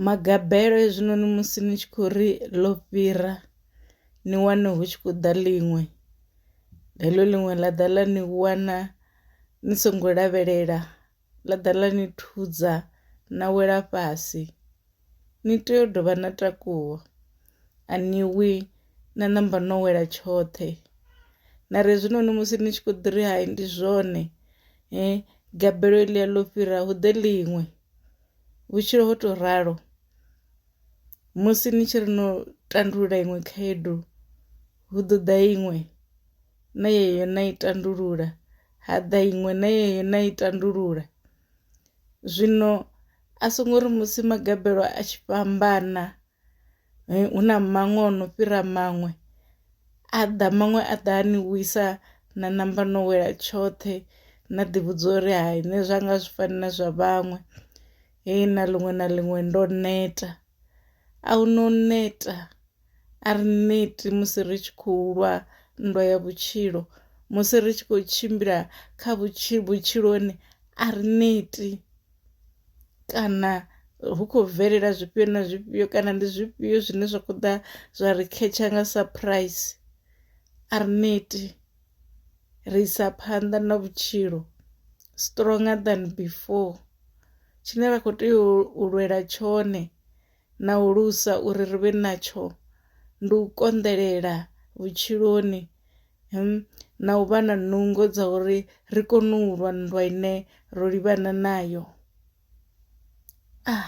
Magabelo hezwinoni musi ni tshi khou ri ḽo fhira ni wane hu tshi khou ḓa ḽiṅwe heḽo ḽiṅwe ḽa ḓa ḽa ni wana ni songo lavhelela ḽa ḓa ḽa ni thudza na wela fhasi ni tea u dovha na takuwa a ni wi na namba no wela tshoṱhe. Mara hezwinoni musi ni tshi kho ḓi ri hai ndi zwone gabelo heḽia ḽo fhira hu ḓe ḽiṅwe. vhutshilo ho tou ralo musi ni tshi ri no tandulula iṅwe khaedu hu ḓo ḓa iṅwe na yeyo na i tandulula ha ḓa iṅwe na yeyo na i tandulula. Zwino a songo ri musi magabelo a tshi fhambana hu na maṅwe o no fhira maṅwe a ḓa maṅwe a ḓa a ni wisa na namba no wela tshoṱhe na ḓi vhudza uri hai nṋe zwa nga zwi fani na zwa vhaṅwe he na ḽiṅwe na ḽiṅwe ndo neta. A hu no neta a ri neti musi ri tshi khou lwa nndwa ya vhutshilo musi ri tshi khou tshimbila kha vhutshilo vhutshiloni a ri neti. kana hu khou bvelela zwifhio na zwifhio kana ndi zwifhio zwine zwa khou ḓa zwa ri khetsha nga surprise a ri neti ri isa phanḓa na vhutshilo stronger than before tshine ra kho tea u lwela tshone. na u lusa uri ri vhe natsho ndi u konḓelela vhutshiloni hmm na u vha na nungo dza uri ri kone u lwa nndwa ine ro livhana nayo ah.